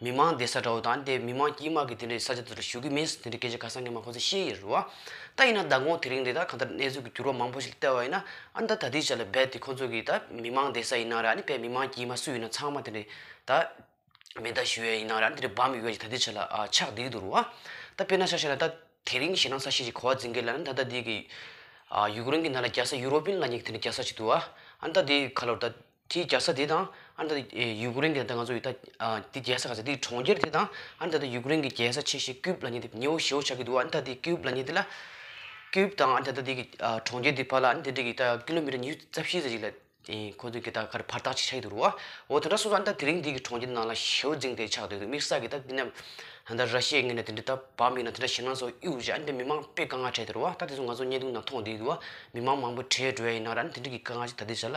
མི་དམངས་འདི་ས་ཁྲའོ་དང་དེ་མི་དམངས་ཀྱིས་དམག་གིས་དེ་འདྲའི་ས་ཆ་དེ་དག་ཞུགས་ཀྱི་མིན་དེ་འདྲའི་སྐད་ཆ་ག་ས་ངས་མ་ཁོ་ཚོས་བཤད་ཡི་རུ་ཨ། ད་ཡིན་ན་ཟླ་འགོང་དེ་རིང་འདི་དག་གང་ལྟར་གནས་ཚུལ་གྱི་འགྱུར་བ་མང་པོ་ཞིག་ལ་བལྟས་བ་ཡིན་ན་ཨ་ད་ད་དེའི་ཆ་ལ་རྦད་དེ་ཁོ་ཚོ་གིས་ད་མི་དམངས་འདི་ས་ཡིན་ན་ར་ནི་བལ་མི་དམངས་ཀྱིས་མ་སུ་ཡིན་ན་ཚང་མ་དེ་འདྲའི་ད་མེ་མདའ་ཞུ་ཡས་ཡིན་ན་ར་ནི་དེ་འདྲའི་འབམ་ཡོད་ཡ་ཞིག་ད་དེའི་ཆ་ལ་ཨ་ཆགས་བསྡད་ཀྱི་འདུག་རུ་ཨ། ད་དཔེར་ན་ཆ་བཤད་ན་ད་དེ་རིང་ཞེ་སྡང་ས་ཤས་ཤིག་གོ་བ་འཛིན་མཁན་ལ་ནི་ད་ད་དེའི་གི་ཨ་ཡུཀ་རེན་གྱི་ནང་ལ་རྒྱ་ས་ཡུ་རོ་པིན་ལ་ཉིག་དེ་འདྲའི་རྒྱ་ས་ཞིག་འདུག་ཨ། ཨ་ད་དེའི་ཁ་ལོར་ད། དེའི་རྒྱལ་ས་དེ་དང། ཨ་རི་ད་ཡུ་ཀུ་རེན་གྱི་ང་ཚོ་ཡོད་ད་དེའི་རྒྱལ་ས་ག་ཚད་དེའི་གྲོང་ཁྱེར་དེ་དང། ཨ་རི་ད་དུ་ཡུ་ཀུ་རེན་གྱི་རྒྱལ་ས་ཆེ་ཞེས་ཀིའུ་བ་ལ་ཉེ་དེ་ཉེའུ་ཞེའུ་ཆགས་ཀྱི་འདུག་ཨ་རི་ད་དེའི་ཀིའུ་བ་ལ་ཉེ་དེ་ལ། ཀིའུ་བ་དང་ཨ་རི་ད་དེའི་གྲོང་ཁྱེར་དེའི་བར་ལ་ཨ་རི་ད་དེའི་ད་ཀི་ལོ་མི་ཀྲ་ཉི་ཤུ་རྩ་བཞི་ཟེར་ཞིག་ལ། ཁོ་ཚོའི་གི་ད་གར་བར་ཐག་ཅིག་ཆགས་ཀྱི་འདུག་རོ། འོ་དེ་འདྲ་སོང་ཙང་ཨ་རི་ད་དེ་རིང་འདིའི་གི་གྲོང་ཁྱེར་ནང་ལ་ཞེའུ་འཛིང་དེ་ཆགས་འདུག་དམིགས་བསལ་གི་ད་འདི་ནས། ད་ར་ཤི་ཡའི་ངོས་ནས་དེ་འདྲ་ད་བབས་མིན་ན་དེ་འདྲ་བྱས་ན་ཚོ་གཡུག་རྗེས་ཨ་རི་ད་མི་མང་དཔེ་དཀའ་ངལ་འཕྲད་དེ་རོ། ད་དེ་ཚོ་ང་ཚོ་བརྙན་ཐུང་ནང་མཐོང་བསྡད་ཀྱི་འདུག་མི་མང་མང་པོ་བྲེལ་འགྲོ་ཡ་ཡིན་ན་ར་ཨ་རི་ད་འདྲི་གི་དཀའ་ངལ་ཅིག་ད་དེ་བྱས་ལ།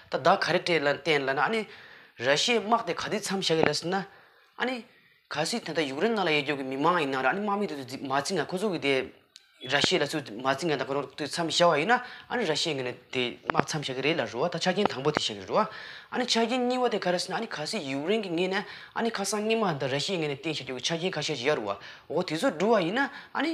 ད་བདག་ག་རེ་སྤྲད་ལ་བསྟན་ལ་ན་ཨ་ནི། ར་ཤི་ཡའི་དམག་དེ་ག་དུས་མཚམས་བཞག་ཡོད་ལ་ཟེར་ན། ཨ་ནི། གལ་སྲིད་དེ་དག་ཡུཀ་རེན་ནང་ལ་ཡོད་རྒྱུ་གི་མི་མང་ཡིན་ན་ར་ཨ་ནི་དམག་མི་དེ་ཚོ་མ་བརྩི་ན་ཁོ་ཚོ་གི་དེ། ར་ཤི་ཡ་ལ་ཚུར་མ་བརྩི་ན་ད་ག་རང་དུས་མཚམས་བཞག་པ་ཡིན་ན་ཨ་ནི་ར་ཤི་ཡ་ངེད་ནས་དེ་དམག་མཚམས་བཞག་གི་རེད་ལ་རུ་བ་ད་ཆ་རྐྱེན་དང་པོ་དེ་བཞག་གི་རུ་བ། ཨ་ནི་ཆ་རྐྱེན་གཉིས་པ་དེ་ག་རེ་ཟེར་ན་ཨ་ནི་གལ་སྲིད་ཡུཀ་རེན་གི་ངེད་ནས་ཨ་ནི་ཁ་སང་སྔས་མ་དང་ར་ཤི་ཡའི་ངེད་ནས་བསྟན་བཞག་རྒྱུ་གི་ཆ་རྐྱེན་ཁ་ཤས་ཞིག་ཡར་རུ་བ་འོ་དེ་ཚོ་འགྲུབ་བ་ཡིན་ན་ཨ་ནི།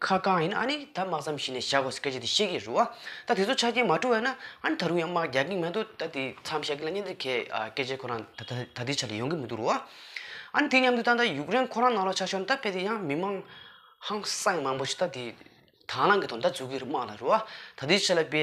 ཁ་བསྐང་ཡིན་ཨ་ནི་ད་དམག་མཚམས་བཞི་ནས་བཞག་དགོས་སྐད་ཆ་དེ་ཤེས་ཀྱི་རུ་ཨ་ད་དེ་ཚོ་ཆ་རྐྱེན་མ་བཀྲུ་བས་ན་ཨ་ནི་ད་རུང་ཡང་དམག་རྒྱག་གི་མེད་འདུག་ད་དེ་མཚམས་བཞག་གི་ལ་ཉན་དེ་གས་སྐད་ཆ་ཁོ་རང་ད་ད་དེ་ཆ་ལ་ཡོང་གི་མི་འདུག་རུ་ཨ་ཨ་ནི་དེ་མཉམ་དུ་ད་ད་ཡུག་རེན་ཁོ་རང་ནང་ལ་ཆགས་ཆོག་ད་དཔེ་དེ་ཡང་མི་མང་ཧང་སངས་མང་པོ་ཞིག་ད་དེ་དྭང་བླངས་ཀྱི་ཐོག་ད་འཛུགས་ཀྱི་རུ་དམག་ལ་རུ་ཨ་ད་དེ་ཆ་ལ་དཔེ་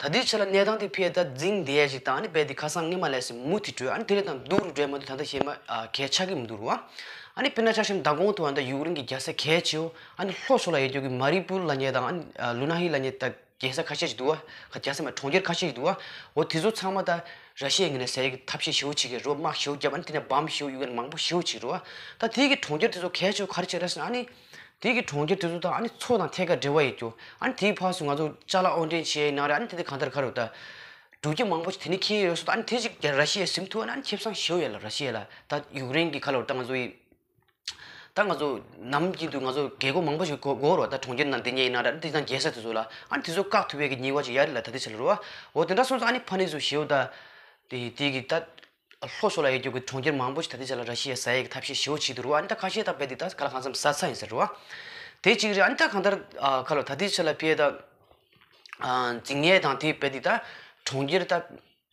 ད་ལྟའི་ཆར་ལ་གནས་སྟངས་དེ་ཕལ་དར་རྫིང་བསྡད་ཅིག་དང་ཨ་ནི་རྦད་དེ་ཁ་སང་སྔས་མ་ལས་སེ་མུ་དེ་བྲོས་ཨ་ནི་དེ་རེད་དང་སྡུག་རུ་བྲོས་མ་འདུག་ད་ལྟ་ཞེ་མ་གས་ཆགས་ཀི་མི་འདུག་རུ་ཨ་ནི་དཔེར་ན་ཆགས་ཞེན་མདའ་དགོང་དུ་ཨ་ནི་ཡུག་རིང་གི་རྒྱལ་ས་གལ་ཆེའོ་ཨ་ནི་ལྷོ་ཕྱོགས་ལ་ཡལ་རྒྱུག་གི་མ་རི་པུར་ལ་ཉེ་དང་ཨ་ནི་ལུ་ན་ཧི་ལ་ཉེ་ད་རྒྱལ་ས་ཁ་ཤས་ཅིག་འདུག་ཨ་ཁ་རྒྱལ་ས་མ་གྲོང་ཁྱེར་ཁ་ཤས་ཅིག་འདུག་ཨ་འོ་དེ་ཚོ་ཚང་མ་ད་ར་ཤེས་ངེས་ན་ཟས་ཀི་ཐབས་ཤེས་ཞེའུ་ཆི་ཀའི་རོ་དམག་ཞེའུ་རྒྱབ་ཨ་ནི་དེ་ནས་བམ་ཞེའུ་གཡུ་ཀན་མང་པོ་ཞེའུ་ཆི་ཀི་རུ་ཨ་ད་དེའི་གི་གྲོང་ཁྱེར་དེ་ཚོ་གལ་ཆེའོ་ག་རེ་བྱས་ར་ཟེར་ན་ཨ་ནི། དེ་གི་གྲོང་ཁྱེར་དེ་ཚོ་དང་ཨ་ནི་མཚོ་དང་ཐད་ཀར་འབྲེལ་བ་ཡོད་རྒྱུ། ཨ་ནི་དེའི་བར་སུ་ང་ཚོ་ལྕགས་ལ་ཨོ་འདྲེན་བྱས་ནང་རེད་ཨ་ནི་དེ་དེ་གང་ལྟར་ག་རེ་རུ་ད། འབྲུག་ཁྱི་མང་པོ་ཞིག་དེ་ནི་ཁྱི་ཡོད་སོ་ད་ཨ་ནི་དེ་ཅིག་རྒྱ་ར་ཤི་ཡའི་ཟིམ་ཐུ་ཨ་ནི་ཁྱི་བསང་ཞེའུ་ཡོད་ལ་ར་ཤི་ཡ་ལ་ད་ཡུག་རེན་གི་ཁ་ལོར་ད་ང་ཚོ་ཡི། ད་ང་ཚོ་ནམ་རྒྱུན་དུ་ང་ཚོ་རྒས་རྒོ་མང་པོ་ཞིག་གོ་གོ་རུ་བ་ད་གྲོང་ཁྱེར་ནང་དེ་ཉེ་ཡི་ནང་རེད་ཨ་ནི་དེ་ཚང་རྒྱལ་ས་དེ་ཚོ་ལ་ཨ་ནི་དེ་ཚོ་བཀག་ཐུབ་ཡ་གི་ཉིན་བ་ཅིག་ཡ་རེད་ལ་ད་དེ་ཆ་ལ་རུ་བ་འོ་དེ་འདྲ་སོང་ཙང་ཨ་ནི་ཕ་ནི་ཚོ་ཞེའུ་ད། དེ་དེ་གི་ད། ལྷོ་ཕྱོགས་ལ་ཡོད་རྒྱུ་གྱི་གྲོང་ཁྱེར་མང་པོ་ཞིག་ད་ལྟའི་ཆ་ལ་ར་ཤི་ཡའི་ས་ཡས་ཀྱི་ཐབས་ཤེས་ཞེ་བོ་བྱས་འདུག་རུང་བ་འདི་ལྟར་ཁ་ཤས་དག་པས་འདི་ལྟར་ག་ལ་གང་འཚམ་ཟ་ཚ་ཡིན་ཟེར་རུང་བ། དེ་གཅིག་རེད་འདི་ལྟར་གང་ལྟར་ཁ་ལོ་ད་ལྟའི་ཆ་ལ་པས་ད། རྫིག་ཉལ་དང་དེ་པས་འདི་ལྟར་གྲོང་ཁྱེར་ད།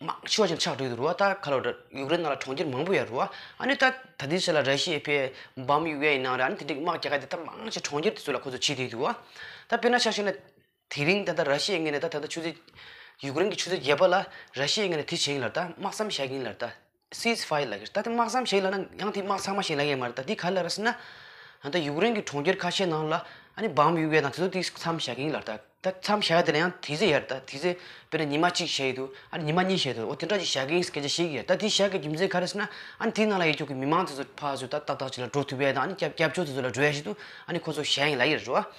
མང་ཆེ་བ་ཞིག་ཆགས་འགྲོ་ཡི་འདུག་རུང་བ་ད་ཁ་ལོ་ཡུཀ་རེན་ནང་ལ་གྲོང་ཁྱེར་མང་པོ་ཡར་རུང་བ། ཨ་ནི་ད་ད་ལྟའི་ཆ་ལ་ར་ཤི་ཡའི་པས་འབའ་མི་ཡུ་ཡ་ཡི་ནང་རེད་ཨ་ནི་དེ་འདྲའི་དམག་རྒྱ་ཁ་འདི་ལྟར་མང་ཆེ་གྲོང་ཁྱེར་དེ་ཚོ་ལ་ཁོ་ཚོ་བྱས་འདུག་ཡི་འདུག་བ། ད་པས་ན་ཆ་ཤས་ན། དེ་རིང་ད་ལྟ་ར་ཤི་ཡའི་ངོས་ནས་ད་ད་ལྟ་ཆུ་ཚོད། ཡུཀ་རེན་གྱི་ཆུ་ཚོད་བརྒྱད་པ་ལ་ར་ཤི་ཡའི་ངོས་ནས་དེ་བྱེད་ཀྱིན་ལ་ད་དམག་བསམ་བཞག་གིན་ལ་ད། སིས་ཧྥ་ཡི་ལ་ཁེར་ད་དེ་དམག་བསམ་བཞག་ལ་ན་ཡང་དེ་དམག་ཚང་མ་བྱེད་ལ་ཡས་མ་རེད་ད་དེ་ག་ལ་ར་སི་ན། ད་ད་ཡུཀ་རེན་གྱི་གྲོང་ཁྱེར་ཁ་ཤས་ནང་ལ་ཨ་ནི་བམ་ཡོད་པའི་ནང་དེ་ཚོ་དེ་བསམ་བཞག་གིན་ལ་ད་ད་བསམ་བཞག་ཡས་དེ་ལ་ཡང་དེ་ཚོ་ཡས་རེད་ད་དེ་ཚོས་དཔེར་ན་ཉི་མ་གཅིག་བཞག་ཡས་དུ་ཨ་ནི་ཉི་མ་གཉིས་བཞག་ཡས་དུ་འོ་དེ་འདྲ་ཅིག་བཞག་གིན་སྐད་ཆ་བཤད་གིན་ཡས་ད་དེ་བཞག་གི་རྒྱུ་མཚན་ག་རེ་སི་ན་ཨ་ནི་དེ་ནང་ལ་ཡས་ཁྱོ་གའི་མི་མང་དེ་ཚོ་ཕ་ཚོས་ད་ཏག་ཏག་ཅིག་ལ་འགྲོ་ཐུབ་པའི་དང་ཨ་ནི་སྐྱབས་སྐྱབས་ཕྱོགས་དེ་ཚོ་ལ་འགྲོ་ཡས་ཤིག་དུ་ཨ་ནི་ཁོ་ཚོ་བཞག་ཡས་ལ་ཡས་རེད་འགྲོ་བ།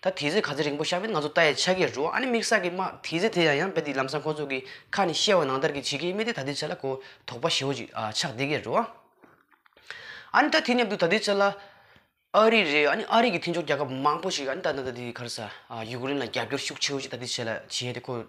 ད་དེ་ཚོས་ག་ཚོད་རིང་པོ་བཤགས་པས་ང་ཚོ་ལྟ་ཡི་ཆ་གས་རུང་ཨ་ནི་མིག་ཟག་གིས་སྨྲ་དེ་ཚོས་དེ་ཡང་ཡང་བས་དེ་ལམ་སང་ཁོ་ཚོ་གི་ཁ་ནས་བཤད་བ་ནང་ལྟར་གྱི་བྱེད་ཀྱི་ཡིན་པས་དེ་ད་དུས་ཚོད་ལ་གོ་དོག་པ་ཞེ་བོ་ཅིག་ཆགས་བསྡད་ཀྱི་རུང་ཨ་ནི་ད་དེ་མཉམ་དུ་ད་དུས་ཚོད་ལ་ཨ་རི་རེད་ཨ་ནི་ཨ་རི་གི་མཐུན་ཕྱོགས་རྒྱལ་ཁབ་མང་པོ་ཞིག་གིས་ཨ་ནི་ད་ད་ད་དེ་གར་ས་ཡུཀ་རེན་ལ་རྒྱབ་སྐྱོར་ཤུགས་ཆེ་བོ་ཅིག་ད་དུས་ཚོད་ལ་བྱས་ཏེ་ཁོ།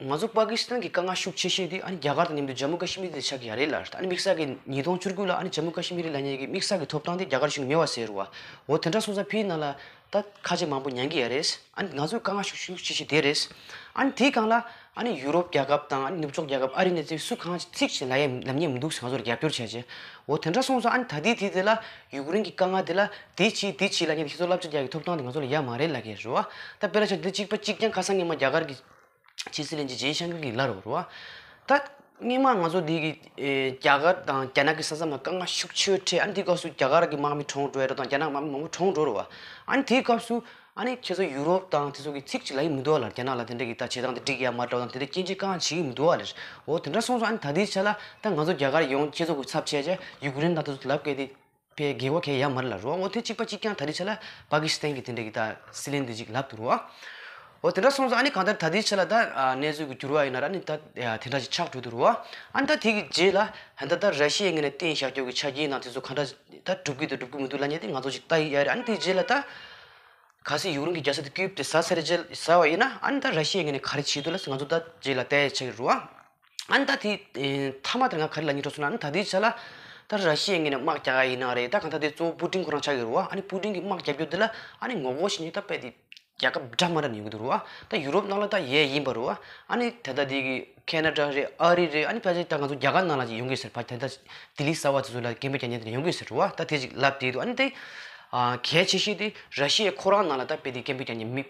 ང་ཚོ་པཱ་ཀི་སི་ཐན་གྱི་དཀའ་ངལ་ཤུགས་ཆེ་ཤོས་དེ་ཨ་ནི་རྒྱ་གར་དང་མཉམ་དུ་ཇཱ་མུ་ཀ་ཤི་མིར་དེ་ཆགས་ཀྱི་ཡ་རེད་ལ། ཨ་ནི་དམིགས་བསལ་གྱིས་ཉིས་སྟོང་བཅུ་དགུ་ལ་ཨ་ནི་ཇཱ་མུ་ཀ་ཤི་མི་རི་ལ་ཉེ་བའི་དམིགས་བསལ་གྱི་ཐོབ་ཐང་དེ་རྒྱ་གར་གཞུང་གིས་ཉེ་བར་ཟེར་རོ། འོ་དེ་འདྲ་སོང་ཙང་ཕི་ནང་ལ་ད་ཁ་ལྕེ་མང་པོ་མྱང་གི་ཡ་རེད། ཨ་ནི་ང་ཚོའི་དཀའ་ངལ་ཤུགས་ཤུགས་ཆེ་ཤོས་དེ་རེད། ཨ་ནི་དེའི་སྒང་ལ་ཨ་ནི་ཡུ་རོབ་རྒྱལ་ཁབ་དང་ཨ་ནི་ནུབ་ཕྱོགས་རྒྱལ་ཁབ་ཨ་རི་ནས་ཚེ་སུ་གང་ཅིག་ཚིག་གཅིག་ལ་ཡ་ལབ་ཉེ་མི་འདུག་ཟེར་ང་ཚོར་རྒྱབ་སྐྱོར་བྱས་རྗེས། འོ་དེ་འདྲ་སོང་ཙང་ཨ་ནི་ད་ལྟའི་དུས་དེ་ལ་ཡུ་ཀེ་རེན་གྱི་དཀའ་ངལ་དེ་ལ་དེ་གྱིས་དེ་གྱིས་ལ་ཉེ་བའི་ཁྱེད་ཚོ་སླབ་བྱ་རྒྱག་གི་ཐོབ་ཐང་དེ་ང་ཚོ་ལ་ཡ་མ་རེད་ལ་ཁེལ་རོ། ད་དཔེར་ན་བྱ་འདི་གཅིག་པ་གཅིག་རྐྱང་ཁ་སང་ངེད་མ་རྒྱ་གར་གྱི་ཕྱི་སྲིད་གླིང་རྗེ་སྤྱན་ཤང་ཀུན་གྱི་བླ་རུ་རུ་བ། ད་སྙིགས་མ་ང་ཚོ་འདི་གི་རྒྱ་གར་དང་རྒྱ་ནག་གི་ས་མཚམས་ལ་དཀའ་ངལ་ཤུགས་ཆེ་འཕྲད་ཨ་ནི་དེའི་སྐབས་སུ་རྒྱ་གར་གྱི་དམག་མི་གྲོངས་འགྲོ་ཡ་རོ་དང་རྒྱ་ནག་གི་དམག་མི་མང་པོ་གྲོངས་འགྲོ་རུ་བ། ཨ་ནི་དེའི་སྐབས་སུ་ཨ་ནི་ཁྱེད་ཚོ་ཡུ་རོབ་དང་དེ་ཚོ་གི་ཚིག་གཅིག་ལ་ཡིད་མི་འདོད་ལ་རྒྱ་ནག་ལ་དེ་འདྲ་གི་ད་བྱེད་སྟངས་དེ་འགྲིག་ཡ་མ་འདྲ་བ་དང་དེ་འདྲ་སྐྱེ་འཆི་དཀའ་ངལ་བྱེད་ཀྱི་མི་འདུག་བ་ལས་འོ་དེ་འདྲ་སོང་ཚོ་ཨ་ནི་ད་དེའི་ཆ་ལ་ད་ང་ཚོ་རྒྱ་གར་ཡོང་ཁྱེད་ཚོ་གི་ཚབ་བྱས་རྗེས་ཡུཀ་རེན་དང་དེ་ཚོ་དེ་ལ་བཀལ་ཏེ། པའི་དགེ་བ་གས་ཡར་མར་ལ་རོ་ངོ་ཐེ་གཅིག་པ་གཅིག་ཀྱང་ད་རེས་ཆ་ལ་པ་ཀི་སི་ཐན་གྱི་དེ་འདྲ་གི་ད་སི་ལན་དུ་ཅིག་ལབ་ཏུ་རོ་ཨོ་དེ་འདྲ་སོང་ཙང་ཨ་ནི་གང་ལྟར་ད་དེའི་ཆ་ལ་ད་གནས་ཚུལ་གྱི་འགྱུར་བ་ཡིན་ན་ར་ཨ་ནི་ད་དེ་འདྲ་ཅིག་ཆགས་འགྲོ་དུ་རོ་ཨ་ནི་ད་དེ་གི་རྗེས་ལ་ད་ད་ད་ར་ཤི་ཡའི་ངན་ནས་བསྟན་ཞྭ་སྐྱོགས་ཀྱི་ཆ་རྐྱེན་དང་དེ་ཚོ་གང་འདྲ་ད་སྒྲུབ་གི་དང་སྒྲུབ་གི་མི་འདུག་ལ་ཉེ་དེ་ང་ཚོ་ཅིག་ལྟ་ཡི་ཡ་རེད་ཨ་ནི་དེའི་རྗེས་ལ་ད་ག་སི་ཡུག་རུང་གི་རྒྱ་སེ་དེ་སྐྱུད་དེ་ཟ་ཟེར་རྗེས་ཟ་བ་ཡིན་ན་ཨ་ནི་ད་ར་ཤི་ཡའི་ངན་ནས་ག་རེ་བྱེད་དུ་ལ་ང་ཚོ་ད་རྗེས་ལ་ལྟ་ཡི་ཆ་ཡོད་རོ་ཨ་ཨན་ད་དེ་མཐའ་མ་དེ་རང་ག་རེ་ལ་ཉེ་འགྲོ་སོང་ན་ཨན་ད་དེའི་ཆ་ལ་ད་ར་ཤི་ཡའི་ངོས་ནས་དམག་རྒྱག་ག་ཡིན་ན་རེད་ད་ག་ད་དེ་གཙོ་བོ་པུ་ཀྲིན་ཁོ་རང་ཆགས་ཀྱི་རུ་བ་ཨ་ནི་པུ་ཀྲིན་གྱི་དམག་རྒྱག་རྒྱུ་དེ་ལ་ཨ་ནི་ངོ་རྒོལ་བྱེད་ཉེན་ད་དཔེ་དེ་རྒྱལ་ཁབ་འདྲ་མ་འདྲ་ཡོང་གི་འདུག་རུ་བ་ད་ཡུ་རོབ་ནང་ལ་ད་ཡས་ཡིན་པ་རུ་བ་ཨ་ནི་ད་ད་དེ་གི་ཁེ་ན་ཏྲ་རེད་ཨ་རི་རེད་ཨ་ནི་ཕ་ཞིག་ད་ང་ཚོ་རྒྱ་གར་ནང་ལ་ཅིག་ཡོང་གི་སེར་ཕ་ད་ད་ལྡི་ལི་གསར་བ་དེ་ཚོ་ལ་རྒན་པོ་རྒྱ་ཉེ་དེ་ཡོང་གི་སེར་རུ་བ་ད་དེ་ཅིག་ལབ་བསྡད་འདུག་ཨ་ནི་ད་གལ་ཆེ་ཤོས་དེ་ར་ཤི་ཡའི་ཁོ་རང་ནང་ལ་ད་དཔེ་དེ་རྒན་པོ་རྒྱ་ཉེ་མི